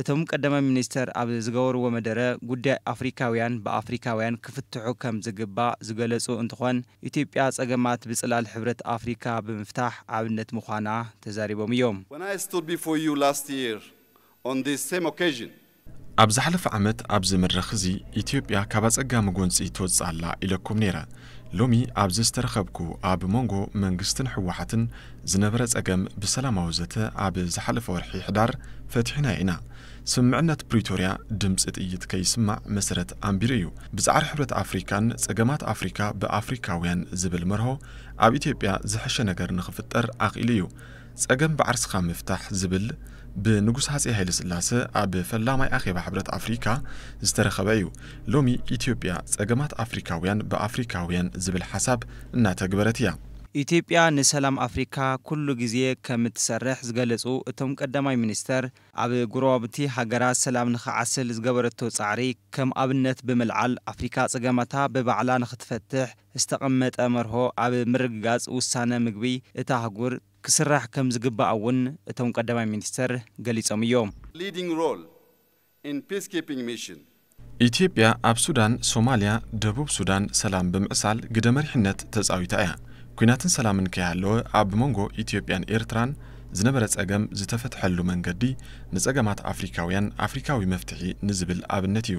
እቶም ቀዳማይ ሚኒስትር ኣብ ዝገበርዎ መደረ ጉዳይ ኣፍሪካውያን ብኣፍሪካውያን ክፍትሑ ከም ዝግባእ ዝገለፁ እንትኾን ኢትዮጵያ ፀገማት ብፅላል ሕብረት ኣፍሪካ ብምፍታሕ ኣብነት ምዃና ተዛሪቦም እዮም። When I stood before you last year on this same occasion, ኣብ ዝሓለፈ ዓመት ኣብዚ መድረኽ እዚ ኢትዮጵያ ካብ ኣፀጋሚ ጎንፂ ትወፅእ ኣላ ኢለኩም ነይረ። ሎሚ ኣብዚ ዝተረኸብኩ ኣብ ሞንጎ መንግስትን ህወሓትን ዝነበረ ፀገም ብሰላማዊ ዘተ ኣብ ዝሓለፈ ወርሒ ሕዳር ፈቲሕናዮ ኢና። ስምምዕነት ፕሪቶርያ ድምፂ ጥይት ከይስማዕ መሰረት ኣንቢሩ እዩ። ብፃዕሪ ሕብረት ኣፍሪካን ፀገማት ኣፍሪካ ብኣፍሪካውያን ዝብል መርሆ ኣብ ኢትዮጵያ ዝሐሸ ነገር ንኽፍጠር ኣኽኢሉ እዩ። ጸገም ብዓርስኻ ምፍታሕ ዝብል ብንጉስ ሃጸይ ሃይለስላሰ ኣብ ፈላማይ ኣኼባ ሕብረት ኣፍሪካ ዝተረኸበ እዩ። ሎሚ ኢትዮጵያ ጸገማት ኣፍሪካውያን ብኣፍሪካውያን ዝብል ሓሳብ እናተግበረት እያ። ኢትዮጵያ ንሰላም ኣፍሪካ ኩሉ ግዜ ከምትሰርሕ ዝገለፁ እቶም ቀዳማይ ሚኒስትር፣ ኣብ ጎረባብቲ ሃገራት ሰላም ንክዓስል ዝገበረቶ ፃዕሪ ከም ኣብነት ብምልዓል ኣፍሪካ ፀገማታ ብባዕላ ንክትፈትሕ ዝተቐመጠ መርሆ ኣብ ምርግጋፅ ውሳነ ምግቢ እታ ኣህጉር ክስራሕ ከምዝግባእ እውን እቶም ቀዳማይ ሚኒስትር ገሊፆም እዮም። leading role in peacekeeping mission። ኢትዮጵያ ኣብ ሱዳን፣ ሶማሊያ፣ ደቡብ ሱዳን ሰላም ብምዕሳል ግደ መሪሕነት ተፃዊታ እያ። ኲናትን ሰላምን ከይሃለወ ኣብ መንጎ ኢትዮጵያን ኤርትራን ዝነበረ ፀገም ዝተፈትሐሉ መንገዲ ንፀገማት ኣፍሪካውያን ኣፍሪካዊ መፍትሒ ንዝብል ኣብነት እዩ።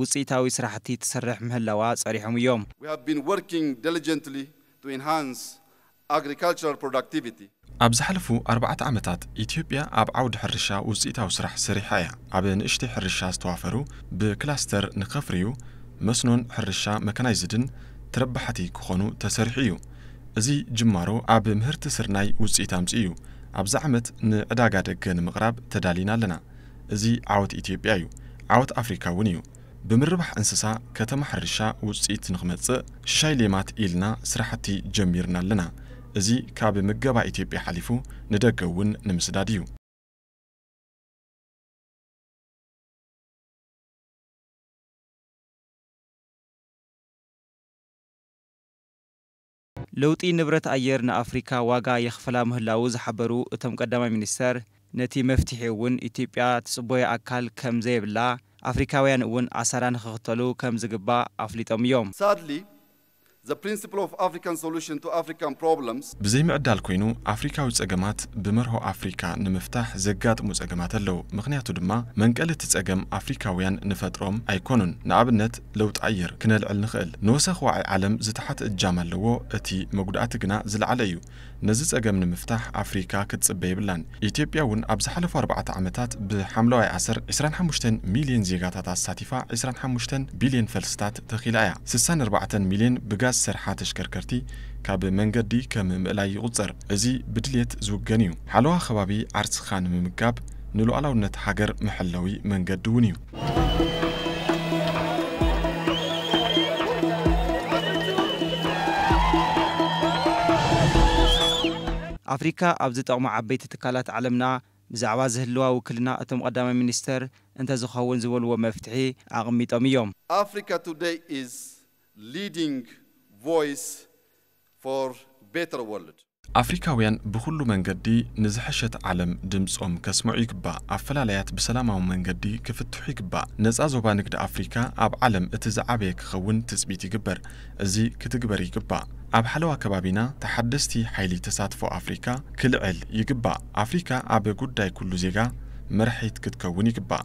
ውፅኢታዊ ስራሕቲ ትሰርሕ ምህላዋ ፀሪሖም እዮም። We have been working diligently to enhance agricultural productivity. ኣብ ዝሓለፉ ኣርባዕተ ዓመታት ኢትዮጵያ ኣብ ዓውዲ ሕርሻ ውፅኢታዊ ስራሕ ሰሪሓ እያ። ኣብ ንእሽተይ ሕርሻ ዝተዋፈሩ ብክላስተር ንከፍርዩ፣ መስኖን ሕርሻ መካናይዝድን ተረባሓቲ ክኾኑ ተሰሪሑ እዩ። እዚ ጅማሮ ኣብ ምህርቲ ስርናይ ውፅኢት ኣምፂኡ እዩ። ኣብዚ ዓመት ንዕዳጋ ደገ ንምቕራብ ተዳሊና ኣለና። እዚ ዓወት ኢትዮጵያ እዩ፣ ዓወት ኣፍሪካ እውን እዩ። ብምርባሕ እንስሳ ከተማ ሕርሻ ውፅኢት ንክመፅእ ሽሻይ ሌማት ኢልና ስራሕቲ ጀሚርና ኣለና። እዚ ካብ ምገባ ኢትዮጵያ ሓሊፉ ንደገ እውን ንምስዳድ እዩ። ለውጢ ንብረት ኣየር ንኣፍሪካ ዋጋ የኽፍላ ምህላዉ ዝሓበሩ እቶም ቀዳማይ ሚኒስትር፣ ነቲ መፍትሒ እውን ኢትዮጵያ ትፅቦዮ ኣካል ከም ዘየብላ ኣፍሪካውያን እውን ኣሰራ ንክኽተሉ ከም ዝግባእ ኣፍሊጦም እዮም። Sadly, the principle of African solution to African problems. ብዘይምዕዳል ኮይኑ ኣፍሪካዊ ፀገማት ብመርሆ ኣፍሪካ ንምፍታሕ ዘጋጥሙ ፀገማት ኣለው ምኽንያቱ ድማ መንቀሊ እቲ ፀገም ኣፍሪካውያን ንፈጥሮም ኣይኮኑን ንኣብነት ለውጢ ኣየር ክነልዕል ንኽእል። ንወሰኽ ዋዒ ዓለም ዝተሓተ እጃም ኣለዎ፣ እቲ መጉዳእቲ ግና ዝለዓለ እዩ። ነዚ ጸገም ንምፍታሕ ኣፍሪካ ክትጽበ የብላን። ኢትዮጵያ እውን ኣብ ዝሓለፉ ኣርባዕተ ዓመታት ብሓምለዋይ ኣሰር ዕስራን ሓሙሽተን ሚሊየን ዜጋታት ኣሳቲፋ ዕስራን ሓሙሽተን ቢሊየን ፈልስታት ተኺላ እያ። ስሳን ኣርባዕተን ሚሊየን ብጋዝ ዝሰርሓ ተሽከርከርቲ ካብ መንገዲ ከም ምእላይ ይቑጸር። እዚ ብድልየት ዝውገን እዩ። ሓለዋ ከባቢ ዓርስኻ ንምምጋብ ንሉኣላውነት ሃገር መሐለዊ መንገዲ እውን እዩ። ኣፍሪካ ኣብ ዝጠቕሙ ዓበይቲ ትካላት ዓለምና ብዛዕባ ዝህልዋ ውክልና እቶም ቐዳማይ ሚኒስትር እንተዝኸውን ዝበልዎ መፍትሒ ኣቕሚጦም እዮም። Africa Today is leading voice for better world። ኣፍሪካውያን ብኹሉ መንገዲ ንዝሐሸት ዓለም ድምፆም ከስምዑ ይግባእ፣ ኣፈላላያት ብሰላማዊ መንገዲ ክፍትሑ ይግባእ፣ ነፃ ዞባ ንግዲ ኣፍሪካ ኣብ ዓለም እቲ ዝዓበየ ክኸውን ትፅቢት ይግበር፣ እዚ ክትግበር ይግባእ፣ ኣብ ሓለዋ ከባቢና ተሓደስቲ ሓይሊ ተሳትፎ ኣፍሪካ ክልዕል ይግባእ፣ ኣፍሪካ ኣብ ጉዳይ ኩሉ ዜጋ መራሒት ክትከውን ይግባእ።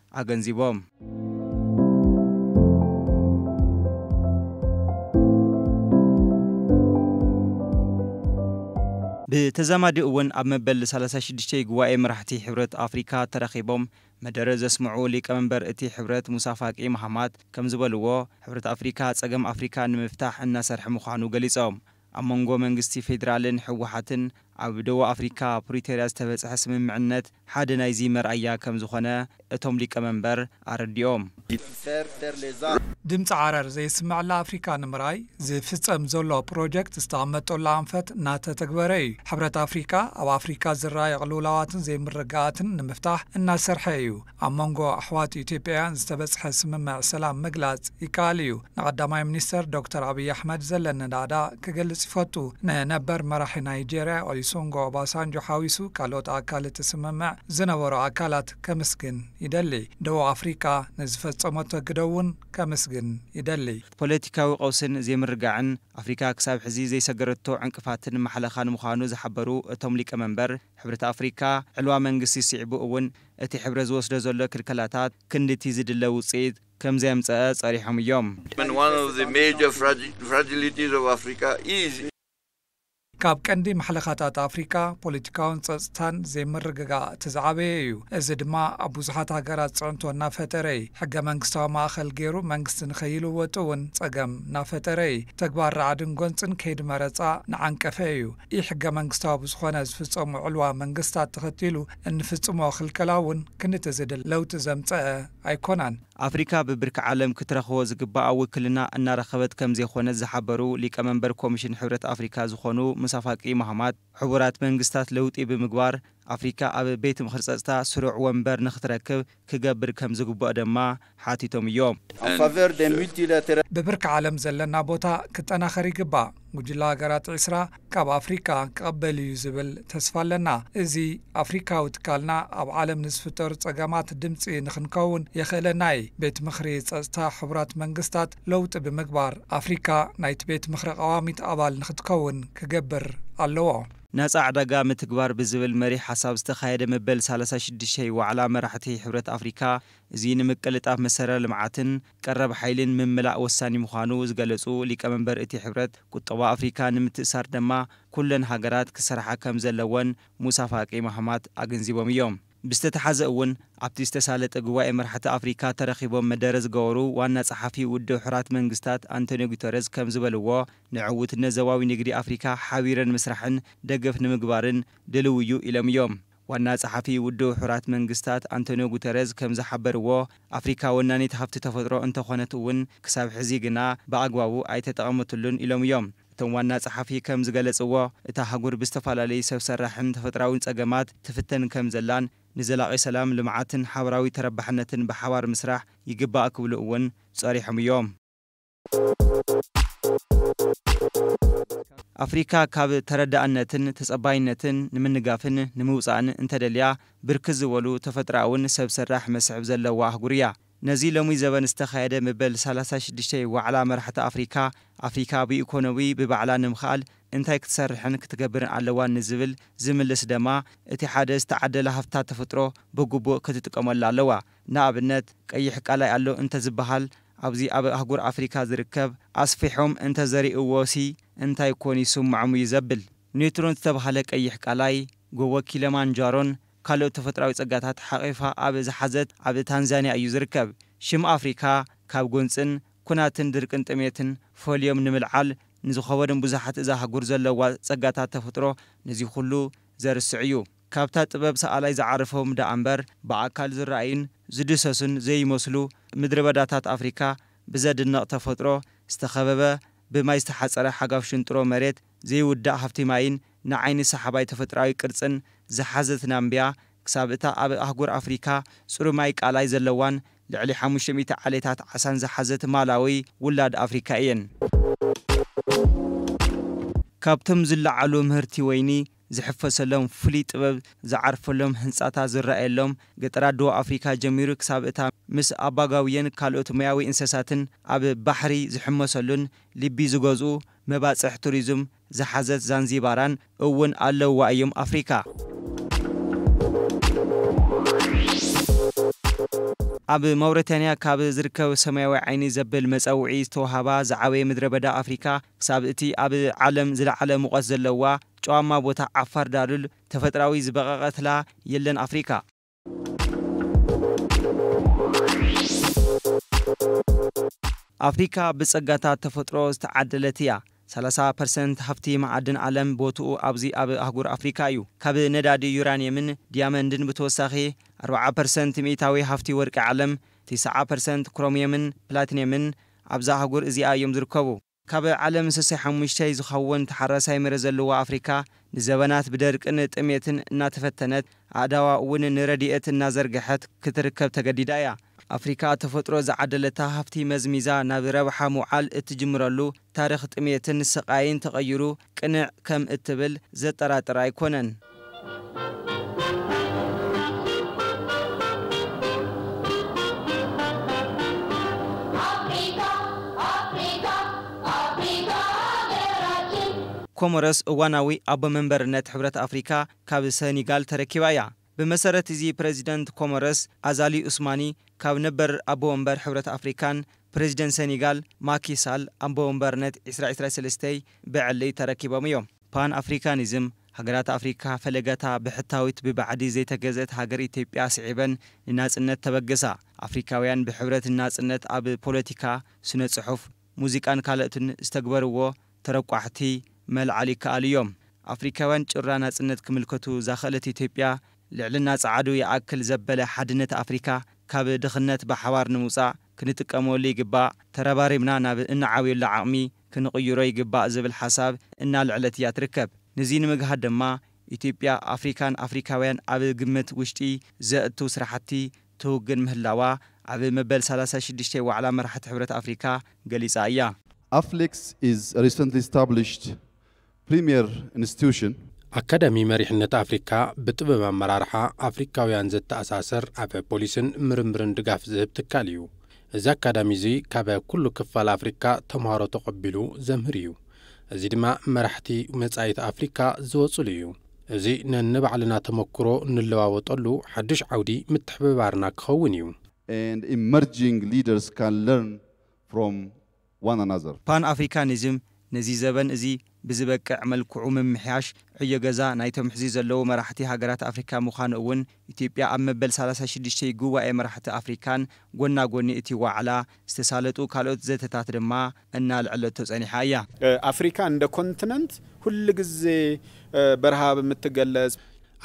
ኣገንዚቦም። ብተዛማዲ እውን ኣብ መበል ሰላሳ ሽዱሽተ ጉባኤ መራሕቲ ሕብረት ኣፍሪካ ተረኺቦም መደረ ዘስምዑ ሊቀ መንበር እቲ ሕብረት ሙሳ ፋቂ ማሃማት ከምዝበልዎ ሕብረት ኣፍሪካ ፀገም ኣፍሪካ ንምፍታሕ እናሰርሐ ምዃኑ ገሊፆም። ኣብ መንጎ መንግስቲ ፌድራልን ህወሓትን ኣብ ደቡብ ኣፍሪካ ፕሪቶርያ ዝተበፅሐ ስምምዕነት ሓደ ናይዚ መርኣያ ከምዝኾነ እቶም ሊቀመንበር ኣረዲኦም። ድምጺ ዓረር ዘይስመዐላ ኣፍሪካ ንምርኣይ ዝፍፀም ዘሎ ፕሮጀክት ዝተቐመጠሉ ኣንፈት እናተተግበረ እዩ። ሕብረት ኣፍሪካ ኣብ ኣፍሪካ ዝረኣዩ ቅልውላዋትን ዘይምርግጋኣትን ንምፍታሕ እናሰርሐ እዩ። ኣብ መንጎ ኣሕዋት ኢትዮጵያውያን ዝተበጽሐ ስምምዕ ሰላም ምግላጽ ይከኣል እዩ። ንቀዳማይ ሚኒስተር ዶክተር ኣብይ ኣሕመድ ዘለኒ ናእዳ ክገልጽ ይፈቱ። ንነበር መራሒ ናይጀርያ ኦሊሶንጎ ኦባሳንጆ ሓዊሱ ካልኦት ኣካል እቲ ስምምዕ ዝነበሩ ኣካላት ከምስግን ይደሊ። ደቡብ ኣፍሪቃ ንዝፈጸመቶ ግደ እውን ከምስግን ይደሊ። እቲ ፖለቲካዊ ቀውስን ዘይምርግጋዕን፣ ኣፍሪካ ክሳብ ሕዚ ዘይሰገረቶ ዕንቅፋትን ማሕለኻን ምዃኑ ዝሓበሩ እቶም ሊቀመንበር፣ ሕብረት ኣፍሪካ ዕልዋ መንግስቲ ስዒቡ እውን፣ እቲ ሕብረ ዝወስዶ ዘሎ ክልከላታት ክንድቲ ዝድለ ውጽኢት ከምዘየምጸኣ ጸሪሖም እዮም። ካብ ቀንዲ ማሕለኻታት ኣፍሪቃ ፖለቲካውን ጸጽታን ዘይምርግጋእ እቲ ዝዓበየ እዩ። እዚ ድማ ኣብ ብዙሓት ሃገራት ጽዕንቶ እናፈጠረ እይ። ሕገ መንግስታዊ ማእኸል ገይሩ መንግስቲ ንከይልወጥ'ውን ጸገም ናፈጠረ እይ። ተግባር ራዕድን ጎንጽን ከይዲ መረጻ ንዓንቀፈ እዩ። ኢ-ሕገመንግስታዊ ብዝኾነ ዝፍፀሙ ዕልዋ መንግስታት ተኸቲሉ እንፍፅሞ ክልከላ እውን ክንዲ ዝድለ ለውጢ ዘምፀኣ ኣይኮናን። ኣፍሪካ ብብርኪ ዓለም ክትረኽቦ ዝግበኣ ውክልና እናረኸበት ከምዘይኮነት ዝሓበሩ ሊቀ መንበር ኮሚሽን ሕብረት ኣፍሪካ ዝኾኑ ሙሳ ፋቂ ማሃማት፣ ሕቡራት መንግስታት ለውጢ ብምግባር ኣፍሪካ ኣብ ቤት ምኽሪ ፀፅታ ስሩዕ ወንበር ንክትረክብ ክገብር ከም ዝግብኦ ደማ ሓቲቶም እዮም። ብብርኪ ዓለም ዘለና ቦታ ክጠናኸር ይግባእ፣ ጉጅለ ሃገራት ዕስራ ካብ ኣፍሪካ ክቕበል እዩ ዝብል ተስፋ ኣለና። እዚ ኣፍሪካዊ ትካልና ኣብ ዓለም ንዝፍጠሩ ፀገማት ድምፂ ንክንከውን የኽእለና እዪ። ቤት ምኽሪ ፀፅታ ሕቡራት መንግስታት ለውጢ ብምግባር ኣፍሪካ ናይቲ ቤት ምኽሪ ቀዋሚት ኣባል ንክትከውን ክገብር ኣለዎ። ናጻ ዕዳጋ ምትግባር ብዝብል መሪሕ ሓሳብ ዝተኻየደ መበል ሳላሳ ሽዱሽይ ዋዕላ መራሕቲ ሕብረት ኣፍሪካ እዙይ ንምቅልጣፍ መሰረ ልምዓትን ቀረብ ሓይሊን ምምላእ ወሳኒ ምዃኑ ዝገለፁ ሊቀመንበር እቲ ሕብረት ቁጠባ ኣፍሪካ ንምትእሳር ደማ ኩለን ሃገራት ክሰርሓ ከምዘለወን ሙሳ ፋቂ ማሃማት ኣገንዚቦም እዮም። ብዝተተሓዘ እውን ኣብቲ ዝተሳለጠ ጉባኤ መራሕቲ ኣፍሪካ ተረኺቦም መደረ ዝገበሩ ዋና ፀሓፊ ውድብ ሕራት መንግስታት ኣንቶንዮ ጉተረዝ ከምዝበልዎ ንዕውትነት ዞባዊ ንግዲ ኣፍሪካ ሓቢረ ንምስራሕን ደገፍ ንምግባርን ድልው እዩ ኢሎም እዮም። ዋና ፀሓፊ ውድብ ሕራት መንግስታት ኣንቶንዮ ጉተረዝ ከምዝሓበርዎ ኣፍሪካ ወናኒት ሃፍቲ ተፈጥሮ እንተኾነት እውን ክሳብ ሕዚ ግና ብኣግባቡ ኣይተጠቐመትሉን ኢሎም እዮም። እቶም ዋና ጸሓፊ ከም ዝገለጽዎ፣ እታ ኣህጉር ብዝተፈላለዩ ሰብ ሰራሕን ተፈጥራዊን ጸገማት ትፍተን ከም ዘላን፣ ንዘላቒ ሰላም፣ ልምዓትን ሓበራዊ ተረባሕነትን ብሓባር ምስራሕ ይግባእ ክብሉ እውን ጸሪሖም እዮም። ኣፍሪካ ካብ ተረዳእነትን ተጸባይነትን ንምንጋፍን ንምውጻእን እንተደልያ፣ ብርክት ዝበሉ ተፈጥራኣውን ሰብ ሰራሕ መስሕብ ዘለዋ ኣህጉር እያ። ነዚ ሎሚ ዘበን ዝተኻየደ መበል ሰላሳ ሽዱሽተ ዋዕላ መራሕቲ ኣፍሪካ፣ ኣፍሪካ ብኢኮኖዊ ብባዕላ ንምኽኣል እንታይ ክትሰርሕን ክትገብርን ኣለዋ ንዝብል ዝምልስ ደማ እቲ ሓደ ዝተዓደላ ሃፍትታት ተፈጥሮ ብግቡእ ክትጥቀመሉ ኣለዋ። ንኣብነት ቀይሕ ቃላይ ኣሎ እንተዝበሃል ኣብዚ ኣብ ኣህጉር ኣፍሪካ ዝርከብ ኣስፊሖም እንተዘሪእዎሲ እንታይ ኮን ይስምዖም እዩ ዘብል። ኔትሮን ዝተብሃለ ቀይሕ ቃላይ፣ ጎቦ ኪለማንጃሮን ካልኦት ተፈጥራዊ ጸጋታት ሓቚፋ ኣብ ዝሓዘት ኣብ ታንዛንያ እዩ ዝርከብ። ሽም ኣፍሪካ ካብ ጎንጽን ኩናትን ድርቅን ጥሜትን ፈልዮም ንምልዓል ንዝኸበዶም ብዙሓት እዛ ኣህጉር ዘለዋ ጸጋታት ተፈጥሮ ነዚ ኩሉ ዘርስዕ እዩ። ካብታ ጥበብ ሰኣላይ ዝዓረፎም ደኣ እምበር ብኣካል ዝረኣዩን ዝድህሰሱን ዘይመስሉ ምድረበዳታት ኣፍሪካ ብዘድንቕ ተፈጥሮ ዝተኸበበ ብማይ ዝተሓጸረ ሓጋፍ ሽንጥሮ መሬት፣ ዘይውዳእ ሃፍቲ ማይን ንዓይኒ ሰሓባይ ተፈጥሮኣዊ ቅርጽን ዝሓዘት ናምብያ፣ ክሳብ እታ ኣብ ኣህጉር ኣፍሪካ ጽሩይ ማይ ቃላይ ዘለዋን ልዕሊ ሓሙሽተ ሚእቲ ዓሌታት ዓሳን ዝሓዘት ማላዊ ውላድ ኣፍሪካ እየን። ካብቶም ዝለዓሉ ምህርቲ ወይኒ ዝሕፈሰሎም፣ ፍሉይ ጥበብ ዝዓርፈሎም፣ ህንጻታት ዝረኣየሎም፣ ገጠራት ደቡብ ኣፍሪካ ጀሚሩ ክሳብ እታ ምስ ኣባጋውየን ካልኦት ሞያዊ እንሰሳትን ኣብ ባሕሪ ዝሕመሰሉን ልቢ ዝገዝኡ መባጽሕ ቱሪዝም ዝሓዘት ዛንዚባራን እውን ኣለውዋ እዮም ኣፍሪካ። ኣብ ማውረታንያ ካብ ዝርከብ ሰማያዊ ዓይኒ ዘብል መጸውዒ ዝተውሃባ ዝዓበየ ምድረ በዳ ኣፍሪካ ክሳብ እቲ ኣብ ዓለም ዝለዓለ ሙቐት ዘለዋ ጨዋማ ቦታ ዓፋር ዳሉል ተፈጥራዊ ዝበቐቐትላ የለን ኣፍሪካ። ኣፍሪካ ብፀጋታት ተፈጥሮ ዝተዓደለት እያ። ሰላሳ ፐርሰንት ሃፍቲ መዓድን ዓለም ቦትኡ ኣብዚ ኣብ ኣህጉር ኣፍሪካ እዩ። ካብ ነዳዲ ዩራኒየምን ዲያመንድን ብተወሳኺ ኣርባዓ ፐርሰንት ሚኢታዊ ሃፍቲ ወርቂ ዓለም፣ ትስዓ ፐርሰንት ክሮሚየምን ፕላቲኒየምን፣ ኣብዛ ኣህጉር እዚኣ እዮም ዝርከቡ። ካብ ዓለም ሰሰይ ሓሙሽተይ ዝኸውን ተሓራሳይ መሬት ዘለዋ ኣፍሪካ ንዘበናት ብደርቅን ጥሜትን እናተፈተነት ኣእዳዋ እውን ንረድኤት እናዘርገሐት ክትርከብ ተገዲዳ እያ። ኣፍሪካ ተፈጥሮ ዝዓደለታ ሃፍቲ መዝሚዛ ናብ ረብሓ ምውዓል እትጅምረሉ ታሪኽ ጥሜትን ስቓይን ተቐይሩ ቅንዕ ከም እትብል ዘጠራጥር ኣይኮነን። ኮሞሮስ እዋናዊ ኣቦ መንበርነት ሕብረት ኣፍሪካ ካብ ሰኒጋል ተረኪባ እያ። ብመሰረት እዚ ፕረዚደንት ኮሞረስ ኣዛሊ ኡስማኒ ካብ ነበር ኣቦ ወንበር ሕብረት ኣፍሪካን ፕረዚደንት ሰኒጋል ማኪ ሳል ኣቦ ወንበርነት ዕስራ ዕስራ ሰለስተይ ብዕሊ ተረኪቦም እዮም። ፓን ኣፍሪካኒዝም፣ ሃገራት ኣፍሪካ ፈለገታ ብሕታዊት ብባዕዲ ዘይተገዝእት ሃገር ኢትዮጵያ ስዒበን ንናፅነት ተበገሳ። ኣፍሪካውያን ብሕብረት ንናፅነት ኣብ ፖለቲካ፣ ስነ ፅሑፍ፣ ሙዚቃን ካልኦትን ዝተግበርዎ ተረቋሕቲ መልዓል ይከኣሉ እዮም። ኣፍሪካውያን ጩራ ናጽነት ክምልከቱ ዛኸእለት ኢትዮጵያ ልዕልና ጸዓዱ ይኣክል ዘበለ ሓድነት ኣፍሪካ ካብ ድኽነት ብሓባር ንምውጻእ ክንጥቀመሉ ይግባእ፣ ተረባሪብና ናብ እንዓብየሉ ዓቕሚ ክንቕይሮ ይግባእ ዝብል ሓሳብ እናልዐለት እያ ትርከብ። ንዚ ንምግሃድ ድማ ኢትዮጵያ ኣፍሪካን ኣፍሪካውያን ኣብ ግምት ውሽጢ ዘእቱ ስራሕቲ ትውግን ምህላዋ ኣብ መበል ሰላሳ ሽዱሽተ ዋዕላ መራሕቲ ሕብረት ኣፍሪካ ገሊፃ እያ። ኣፍሌክስ ኢዝ አ ሪሰንትሊ ስታብሊሽድ ፕሪሚየር ኢንስቲትዩሽን። ኣካዳሚ መሪሕነት ኣፍሪካ ብጥበብ ኣመራርሓ ኣፍሪካውያን ዘተኣሳስር ኣብ ፖሊሲን ምርምርን ድጋፍ ዝህብ ትካል እዩ። እዚ ኣካዳሚ እዚ ካብ ኩሉ ክፋል ኣፍሪካ ተምሃሮ ተቐቢሉ ዘምህር እዩ። እዚ ድማ መራሕቲ መፃኢት ኣፍሪካ ዝወፅሉ እዩ። እዚ ነንባዕልና ተመኩሮ ንለዋወጠሉ ሓዱሽ ዓውዲ ምትሕብባርና ክኸውን እዩ። and emerging leaders can learn from one another። ፓን-ኣፍሪካኒዝም ነዚ ዘበን እዚ ብዝበቅዕ መልክዑ ምምሕያሽ ዕዮ ገዛ ናይቶም ሕዚ ዘለዉ መራሕቲ ሃገራት ኣፍሪካ ምዃኑ እውን ኢትዮጵያ ኣብ መበል ሰላሳ ሽዱሽተ ጉባኤ መራሕቲ ኣፍሪካን ጎና ጎኒ እቲ ዋዕላ ዝተሳለጡ ካልኦት ዘተታት ድማ እናልዐለቶ ፀኒሓ እያ። ኣፍሪካ እንደ ኮንትነንት ሁል ግዜ በረሃ ብምትገለፅ፣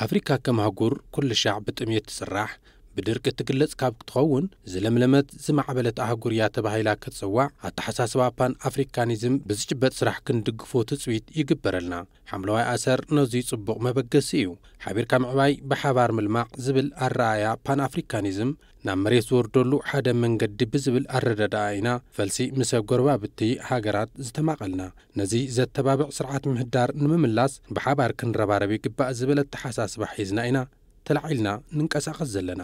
ኣፍሪካ ከም ኣህጉር ኩልሻዕ ብጥምየት ትፅራሕ ብድርቂ እትግለፅ ካብ ክትኸውን ዝለምለመት ዝማዕበለት ኣህጉር እያ ተባሂላ ክትፅዋዕ ኣተሓሳስባ ፓን ኣፍሪካኒዝም ብዝጭበጥ ስራሕ ክንድግፎ ትፅቢት ይግበረልና። ሓምለዋይ ኣሰር ነዙይ ጽቡቕ መበገሲ እዩ። ሓቢርካ ምዕባይ ብሓባር ምልማዕ ዝብል ኣረኣእያ ፓን ኣፍሪካኒዝም ናብ መሬት ዝወርደሉ ሓደ መንገዲ ብዝብል ኣረዳድኣ ኢና ፈልሲ ምሰ ጎረባብቲ ሃገራት ዝተማቐልና። ነዚ ዘተባብዕ ስርዓት ምህዳር ንምምላስ ብሓባር ክንረባረብ ይግባእ ዝብል ኣተሓሳስባ ሒዝና ኢና ተላዒልና ንንቀሳቐስ ዘለና።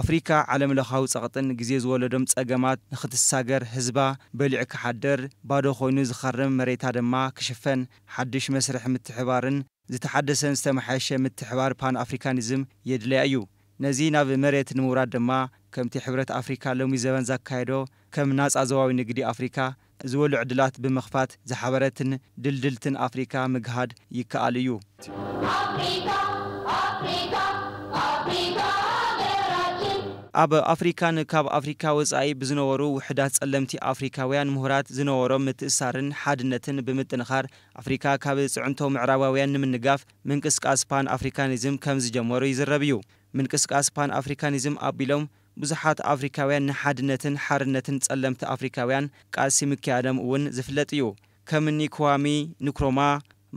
ኣፍሪካ ዓለም ለኻዊ ፀቕጥን ግዜ ዝወለዶም ፀገማት ንክትሳገር ህዝባ በሊዑ ክሓድር፣ ባዶ ኮይኑ ዝኸርም መሬታ ድማ ክሽፈን ሓዱሽ መስርሕ ምትሕባርን ዝተሓደሰን ዝተመሓየሸ ምትሕባር ፓን ኣፍሪካኒዝም የድለያ እዩ። ነዚ ናብ መሬት ንምውራድ ድማ ከምቲ ሕብረት ኣፍሪካ ሎሚ ዘበን ዛካየዶ ከም ናፃ ዞባዊ ንግዲ ኣፍሪካ ዝበሉ ዕድላት ብምኽፋት ዝሓበረትን ድልድልትን ኣፍሪካ ምግሃድ ይከኣል እዩ። ኣፍሪካ ኣፍሪካ ኣፍሪካ ሃገራችን። ኣብ ኣፍሪካን ካብ ኣፍሪካ ወፃኢ ብዝነበሩ ውሑዳት ፀለምቲ ኣፍሪካውያን ምሁራት ዝነበሮም ምትእስሳርን ሓድነትን ብምጥንኻር ኣፍሪካ ካብ ፅዕንቶ ምዕራባውያን ንምንጋፍ ምንቅስቃስ ፓን ኣፍሪካኒዝም ከምዝጀመሩ ይዝረብ እዩ። ምንቅስቃስ ፓን ኣፍሪካኒዝም ኣቢሎም ብዙሓት ኣፍሪካውያን ንሓድነትን ሓርነትን ፀለምቲ ኣፍሪካውያን ቃልሲ ምክያዶም እውን ዝፍለጥ እዩ። ከም እኒ ክዋሚ ንክሮማ፣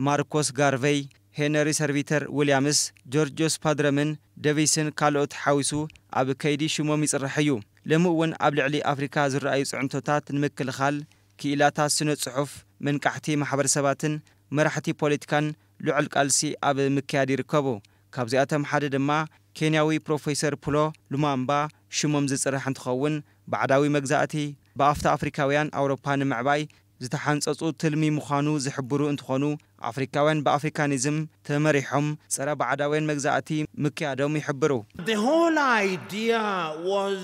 ማርኮስ ጋርቨይ፣ ሄነሪ ሰርቪተር ዊልያምስ፣ ጆርጆስ ፓድረምን ደቪስን ካልኦት ሓዊሱ ኣብ ከይዲ ሽሞም ይፅራሕ እዩ። ሎሚ እውን ኣብ ልዕሊ ኣፍሪካ ዝረኣዩ ፅዕንቶታት ንምክልኻል ክኢላታት ስነ ፅሑፍ፣ መንቃሕቲ ማሕበረሰባትን መራሕቲ ፖለቲካን ልዑል ቃልሲ ኣብ ምክያድ ይርከቡ። ካብዚኣቶም ሓደ ድማ ኬንያዊ ፕሮፌሰር ፑሎ ሉማምባ ሽሞም ዝፅራሕ እንትኸውን ባዕዳዊ መግዛእቲ ብኣፍታ ኣፍሪካውያን ኣውሮፓ ንምዕባይ ዝተሓንጸጹ ትልሚ ምዃኑ ዝሕብሩ እንትኾኑ፣ ኣፍሪካውያን ብኣፍሪካኒዝም ተመሪሖም ጸረ ባዕዳውያን መግዛእቲ ምክያዶም ይሕብሩ። The whole idea was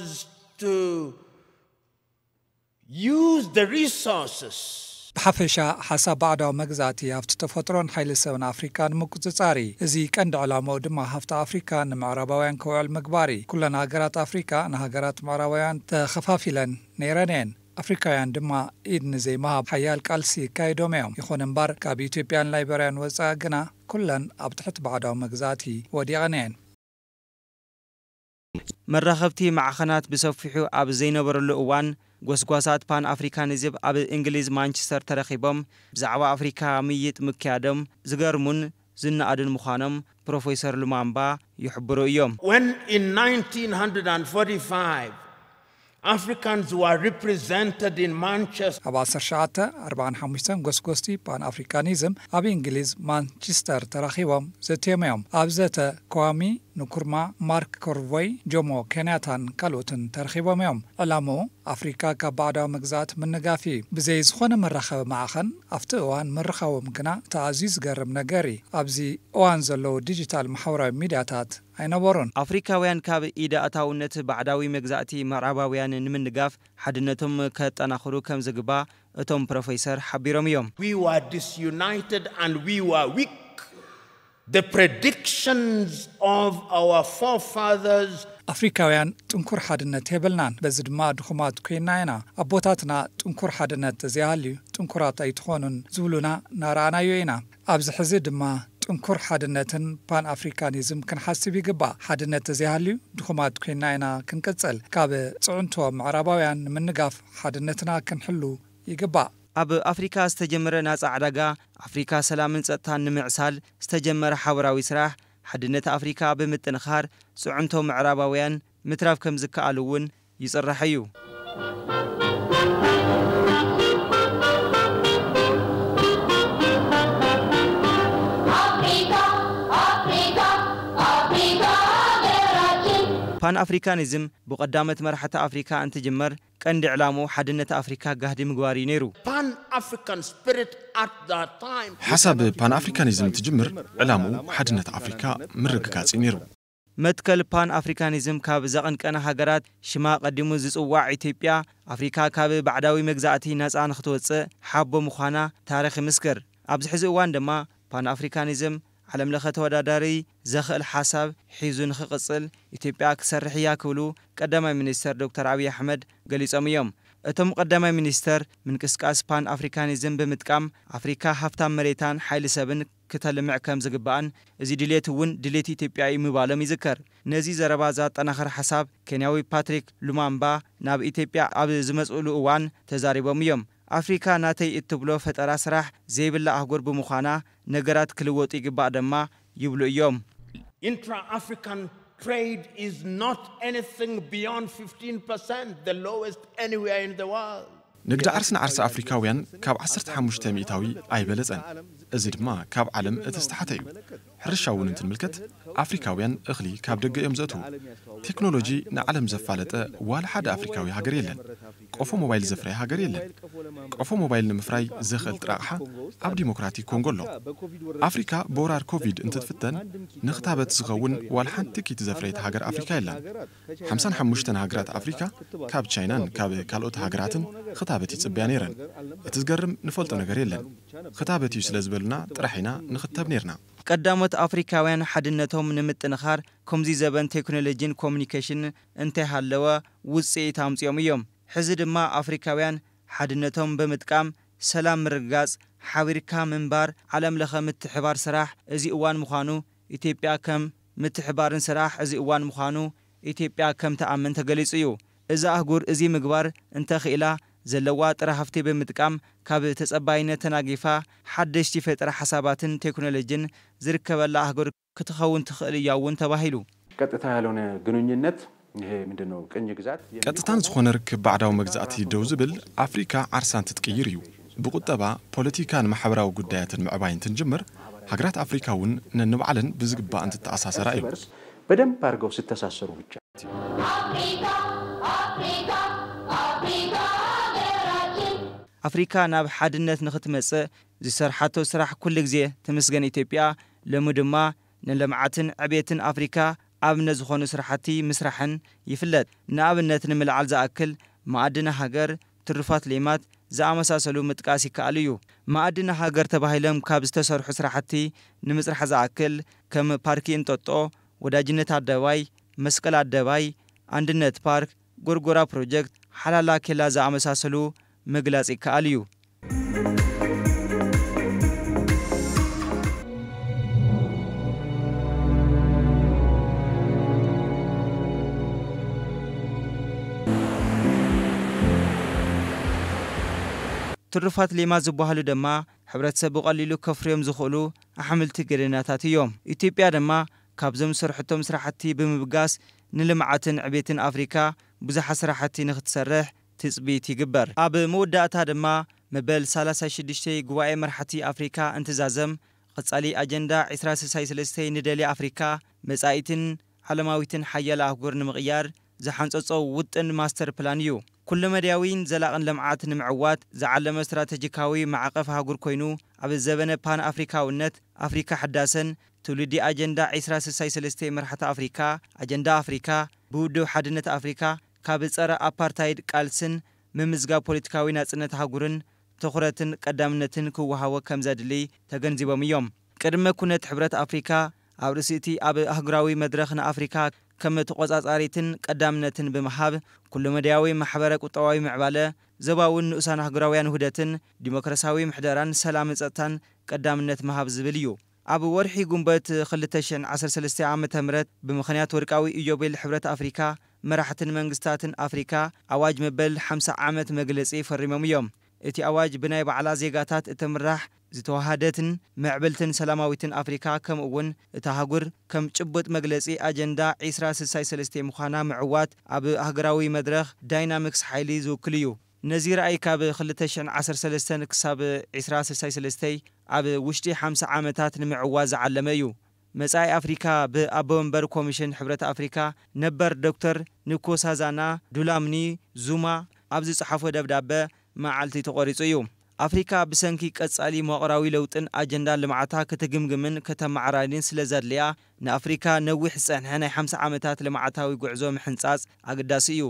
to use the resources. ብሓፈሻ ሓሳብ ባዕዳዊ መግዛእቲ ሃፍቲ ተፈጥሮን ሓይሊ ሰብን ኣፍሪካ ንምቁጽጻር እዪ። እዚ ቀንዲ ዕላማኡ ድማ ሃፍቲ ኣፍሪካ ንምዕራባውያን ክውዕል ምግባር እዪ። ኩለን ሃገራት ኣፍሪካ ንሃገራት ምዕራባውያን ተኸፋፊለን ነይረን እየን። ኣፍሪካውያን ድማ ኢድ ንዘይምሃብ ሓያል ቃልሲ ኣካይዶም እዮም። ይኹን እምበር ካብ ኢትዮጵያን ላይበርያን ወፃኢ ግና ኩለን ኣብ ትሕቲ ባዕዳዊ መግዛእቲ ወዲቐን እየን። መራኸብቲ ማዕኸናት ብሰፊሑ ኣብ ዘይነበረሉ እዋን ጎስጓሳት ፓን ኣፍሪካኒዝብ ኣብ እንግሊዝ ማንችስተር ተረኺቦም ብዛዕባ ኣፍሪካ ምይይጥ ምክያዶም ዝገርሙን ዝነኣዱን ምዃኖም ፕሮፌሰር ሉማምባ ይሕብሩ እዮም። When in nineteen hundred and forty five Africans were represented in Manchester. ኣብ ዓሰርተ ትሽዓተ ኣርብዓን ሓሙሽተን ጎስጎስቲ ፓን ኣፍሪካኒዝም ኣብ እንግሊዝ ማንቺስተር ተራኺቦም ዘትዮም እዮም። ኣብ ዘተ ክዋሚ ንኩርማ፣ ማርክ ኮርቮይ፣ ጆሞ ኬንያታን ካልኦትን ተረኺቦም እዮም። ዕላምኡ ኣፍሪካ ካብ ባዕዳዊ መግዛእቲ ምንጋፍ እዪ። ብዘይ ዝኾነ መራኸቢ ማዕኸን ኣፍቲ እዋን ምርኻቦም ግና እቲ ኣዝዩ ዝገርም ነገር እዪ። ኣብዚ እዋን ዘለዉ ዲጂታል ማሕበራዊ ሚድያታት፣ ኣይነበሮን። ኣፍሪካውያን ካብ ኢድ ኣእታውነት ባዕዳዊ መግዛእቲ ምዕራባውያን ንምንጋፍ ሓድነቶም ከጠናኽሩ ከምዝግባእ እቶም ፕሮፌሰር ሓቢሮም እዮም። We were disunited and we were weak, the predictions of our forefathers. ኣፍሪካውያን ጥንኩር ሓድነት የብልናን፣ በዚ ድማ ድኹማት ኮይንና ኢና። ኣቦታትና ጥንኩር ሓድነት ተዘይሃልዩ ጥንኩራት ኣይትኾኑን ዝብሉና እናረኣናዮ ኢና። ኣብዚ ሕዚ ድማ ጥንኩር ሓድነትን ፓን ኣፍሪካኒዝም ክንሓስብ ይግባእ። ሓድነት ተዘይሃልዩ ድኹማት ኮይንና ኢና ክንቅፅል። ካብ ፅዕንቶ ምዕራባውያን ንምንጋፍ ሓድነትና ክንሕሉ ይግባእ። ኣብ ኣፍሪካ ዝተጀመረ ናፃ ዕዳጋ ኣፍሪካ ሰላምን ፀጥታን ንምዕሳል ዝተጀመረ ሓበራዊ ስራሕ ሓድነት ኣፍሪካ ብምጥንኻር ፅዕንቶ ምዕራባውያን ምትራፍ ከምዝከኣል እውን ይጽራሕ እዩ። ፓን ኣፍሪካኒዝም ብቀዳሞት መራሕቲ ኣፍሪካ እንትጅመር ቀንዲ ዕላምኡ ሓድነት ኣፍሪካ ጋህዲ ምግባር እዩ ነይሩ። ሓሳብ ፓን ኣፍሪካኒዝም እንትጅምር ዕላምኡ ሓድነት ኣፍሪካ ምርግጋፅ እዩ ነይሩ። መትከል ፓን ኣፍሪካኒዝም ካብ ዘቐንቀና ሃገራት ሽማ ቀዲሙ ዝጽዋዕ ኢትዮጵያ፣ ኣፍሪካ ካብ ባዕዳዊ መግዛእቲ ናጻ ንክትወጽእ ሓቦ ምዃና ታሪኽ ይምስክር። ኣብዚ ሕዚ እዋን ድማ ፓን ኣፍሪካኒዝም ዓለም ለኸ ተወዳዳሪ ዘኽእል ሓሳብ ሒዙ ንክቕጽል ኢትዮጵያ ክትሰርሕ እያ ክብሉ ቀዳማይ ሚኒስተር ዶክተር ኣብይ ኣሕመድ ገሊጾም እዮም። እቶም ቀዳማይ ሚኒስተር ምንቅስቃስ ፓን ኣፍሪካኒዝም ብምጥቃም ኣፍሪካ ሃፍታም መሬታን ሓይሊ ሰብን ክተልምዕ ከም ዝግባእን እዚ ድሌት እውን ድሌት ኢትዮጵያ እዩ ምባሎም ይዝከር። ነዚ ዘረባ ዘኣጠናኽር ሓሳብ ኬንያዊ ፓትሪክ ሉማምባ ናብ ኢትዮጵያ ኣብ ዝመፅእሉ እዋን ተዛሪቦም እዮም። ኣፍሪካ ናተይ እትብሎ ፈጠራ ስራሕ ዘይብላ ኣህጉር ብምዃና ነገራት ክልወጡ ይግባእ ደማ ይብሉ እዮም። ኢንትራ ኣፍሪካን ትሬድ ኢዝ ኖት ኤኒቲንግ ቢዮንድ ፊፍቲን ፐርሰንት፣ ዘ ሎወስት ኤኒዌር ኢን ዘ ወርልድ። ንግዲ ዓርሲ ንዓርሲ ኣፍሪካውያን ካብ ዓሰርተ ሓሙሽተ ሚእታዊ ኣይበለፀን፣ እዚ ድማ ካብ ዓለም እቲ ዝተሓተ እዩ። ሕርሻ እውን እንትንምልከት ኣፍሪካውያን እኽሊ ካብ ደገ እዮም ዘእትዉ። ቴክኖሎጂ ንዓለም ዘፋለጠ ዋላ ሓደ ኣፍሪካዊ ሃገር የለን። ቆፎ ሞባይል ዘፍረየ ሃገር የለን። ቆፎ ሞባይል ንምፍራይ ዘኽእል ጥረ ኣቕሓ ኣብ ዲሞክራቲክ ኮንጎ ኣሎ። ኣፍሪካ ብወራር ኮቪድ እንትትፍተን ንኽታበት ዝኸውን ዋላ ሓንቲ ኪት ዘፍረየት ሃገር ኣፍሪካ የላን። ሓምሳን ሓሙሽተን ሃገራት ኣፍሪካ ካብ ቻይናን ካብ ካልኦት ሃገራትን ኽታበት ይፅበያ ነይረን። እቲ ዝገርም ንፈልጦ ነገር የለን። ኽታበት እዩ ስለ ዝበሉና ጥራሕ ኢና ንኽተብ ነይርና። ቀዳሞት ኣፍሪካውያን ሓድነቶም ንምጥንኻር ከምዙይ ዘበን ቴክኖሎጂን ኮሙኒኬሽንን እንተይሃለወ ውፅኢት ኣምፂኦም እዮም። ሕዚ ድማ ኣፍሪካውያን ሓድነቶም ብምጥቃም ሰላም ምርግጋፅ፣ ሓቢርካ ምንባር፣ ዓለም ለኸ ምትሕብባር ስራሕ እዚ እዋን ምዃኑ ኢትዮጵያ ከም ምትሕባርን ስራሕ እዚ እዋን ምዃኑ ኢትዮጵያ ከም ትኣምን ተገሊፁ እዩ። እዛ ኣህጉር እዚ ምግባር እንተ ኽኢላ ዘለዋ ጥረ ሃፍቲ ብምጥቃም ካብ ተፀባይነት ተናጊፋ ሓደሽቲ ፈጠራ ሓሳባትን ቴክኖሎጂን ዝርከበላ ኣህጉር ክትኸውን ትኽእል እያ እውን ተባሂሉ። ቀጥታ ያልሆነ ግኑኝነት ቀጥታን ዝኾነ ርክብ ባዕዳዊ መግዛእቲ ደው ዝብል፣ ኣፍሪካ ዓርሳ እንትትቅይር እዩ። ብቁጠባ፣ ፖለቲካን ማሕበራዊ ጉዳያትን ምዕባይ እንትንጅምር፣ ሃገራት ኣፍሪካ እውን ነንባዕለን ብዝግባእ እንትተኣሳሰራ እዩ። ኣፍሪካ ናብ ሓድነት ንክትመፅእ ዝሰርሓቶ ስራሕ ኩልግዜ ትምስገን ኢትዮጵያ፣ ሎሚ ድማ ንልምዓትን ዕቤትን ኣፍሪካ ኣብነት ዝኾኑ ስራሕቲ ምስራሕን ይፍለጥ። ንኣብነት ንምልዓል ዝኣክል፣ መኣድነ ሃገር፣ ትሩፋት ሌማት ዝኣመሳሰሉ ምጥቃስ ይከኣል እዩ። መኣድነ ሃገር ተባሂሎም ካብ ዝተሰርሑ ስራሕቲ ንምፅራሕ ዝኣክል ከም ፓርኪ እንጦጦ፣ ወዳጅነት ኣደባባይ፣ መስቀል ኣደባይ፣ ኣንድነት ፓርክ፣ ጎርጎራ ፕሮጀክት፣ ሓላላ ኬላ ዝኣመሳሰሉ ምግላጽ ይከኣል እዩ። ትሩፋት ሌማት ዝበሃሉ ደማ ሕብረተሰብ ብቐሊሉ ከፍርዮም ዝኽእሉ ኣሕምልቲ ገደናታት እዮም። ኢትዮጵያ ደማ ካብዞም ዝሰርሐቶም ስራሕቲ ብምብጋስ ንልምዓትን ዕቤትን ኣፍሪካ ብዙሓት ስራሕቲ ንክትሰርሕ ትፅቢት ይግበር። ኣብ መወዳእታ ድማ መበል ሳላሳይ ሽዱሽተይ ጉባኤ መራሕቲ ኣፍሪካ እንትዛዘም ቐፃሊ ኣጀንዳ ዕስራ ስሳይ ስለስተይ ንደልያ ኣፍሪካ መፃኢትን ዓለማዊትን ሓያል ኣህጉር ንምቕያር ዝሓንፀፆ ውጥን ማስተር ፕላን እዩ። ኩለመዳያዊን ዘላቕን ልምዓት ንምዕዋት ዝዓለመ ስትራተጂካዊ ማዕቐፍ ኣህጉር ኮይኑ ኣብ ዘበነ ፓን ኣፍሪካዊነት ኣፍሪካ ሕዳሰን ትውልዲ ኣጀንዳ ዕስራ ስሳይ ሰለስተ መራሕቲ ኣፍሪካ፣ ኣጀንዳ ኣፍሪካ፣ ብውድብ ሓድነት ኣፍሪካ ካብ ፀረ ኣፓርታይድ ቃልስን ምምዝጋብ ፖለቲካዊ ናፅነት ኣህጉርን ትኹረትን ቀዳምነትን ክወሃቦ ከምዘድልይ ተገንዚቦም እዮም። ቅድመ ኩነት ሕብረት ኣፍሪካ ኣብ ርእሲ እቲ ኣብ ኣህጉራዊ መድረኽ ንኣፍሪካ ከም ተቖፃፃሪትን ቀዳምነትን ብምሃብ ኩለመዳያዊ ማሕበረ ቁጠባዊ ምዕባለ፣ ዞባዊን ንኡሳን ኣህጉራውያን ውህደትን፣ ዲሞክራሲያዊ ምሕደራን ሰላምን ፀጥታን ቀዳምነት ምሃብ ዝብል እዩ። ኣብ ወርሒ ጉንበት ክልተ ሽሕን ዓሰርተ ሰለስተን ዓመተ ምህረት ብምኽንያት ወርቃዊ ኢዮቤል ሕብረት ኣፍሪካ መራሕትን መንግስታትን ኣፍሪካ ኣዋጅ መበል ሓምሳ ዓመት መግለፂ ፈሪሞም እዮም። እቲ ኣዋጅ ብናይ ባዕላ ዜጋታት እትምራሕ ዝተወሃደትን ምዕብልትን ሰላማዊትን ኣፍሪካ ከምኡ እውን እታ ኣህጉር ከም ጭቡጥ መግለፂ ኣጀንዳ ዒስራ ስሳይ ሰለስቴ ምዃና ምዕዋት ኣብ ኣህጉራዊ መድረኽ ዳይናሚክስ ሓይሊ ዝውክል እዩ። ነዚ ራእይ ካብ ክልተ ሽሕን ዓሰርተ ሰለስተን ክሳብ ዕስራ ስሳይ ሰለስተይ ኣብ ውሽጢ ሓምሳ ዓመታት ንምዕዋት ዝዓለመ እዩ። መጻኢ ኣፍሪካ ብኣቦመንበር ኮሚሽን ሕብረት ኣፍሪካ ነበር ዶክተር ንኮሳዛና ዱላምኒ ዙማ ኣብ ዝጸሓፎ ደብዳበ መዓልቲ ተቖሪጹ እዩ። ኣፍሪካ ብሰንኪ ቀጻሊ መዋቕራዊ ለውጥን ኣጀንዳ ልምዓታ ክትግምግምን ከተመዓራርይን ስለዘድልያ ንኣፍሪካ ነዊሕ ዝጸንሐ ናይ ሓምሳ ዓመታት ልምዓታዊ ጉዕዞ ምሕንጻጽ ኣገዳሲ እዩ።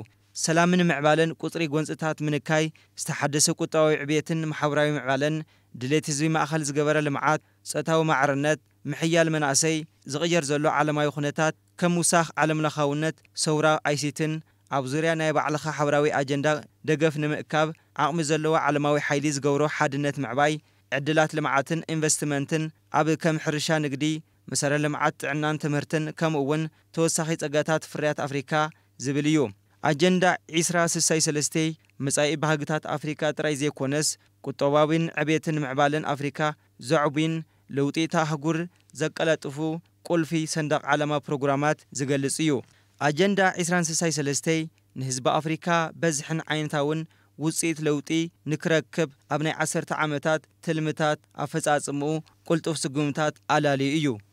ሰላምን ምዕባለን ቁጽሪ ጎንጽታት ምንካይ፣ ዝተሓደሰ ቁጠባዊ ዕብየትን ማሕበራዊ ምዕባለን፣ ድሌት ህዝቢ ማእከል ዝገበረ ልምዓት፣ ጾታዊ ማዕርነት፣ ምሕያል መናእሰይ፣ ዝቕየር ዘሎ ዓለማዊ ኩነታት ከም ምውሳኽ ዓለምለኻውነት ሰውራ ኣይሲቲን ኣብ ዙርያ ናይ ባዕልኻ ሓበራዊ ኣጀንዳ ደገፍ ንምእካብ ዓቕሚ ዘለዎ ዓለማዊ ሓይሊ ዝገብሮ ሓድነት ምዕባይ ዕድላት ልምዓትን ኢንቨስትመንትን ኣብ ከም ሕርሻ ንግዲ መሰረተ ልምዓት ጥዕናን ትምህርትን ከምኡ'ውን ተወሳኺ ጸጋታት ፍርያት ኣፍሪካ ዝብል እዩ። ኣጀንዳ ዕስራ ስሳይ ሰለስቴ መጻኢ ባህግታት ኣፍሪካ ጥራይ ዘይኮነስ ቁጠባዊን ዕብየትን ምዕባለን ኣፍሪካ ዘዕቡን ለውጢ እታ ኣህጉር ዘቀላጥፉ ቁልፊ ሰንደቕ ዓላማ ፕሮግራማት ዝገልፅ እዩ። ኣጀንዳ ዕስራን ስሳይ ሰለስቴ ንህዝቢ ኣፍሪካ በዝሕን ዓይነታውን ውፅኢት ለውጢ ንክረክብ ኣብ ናይ ዓሰርተ ዓመታት ትልምታት ኣፈፃፅምኡ ቁልጡፍ ስጉምታት ኣላልዩ እዩ።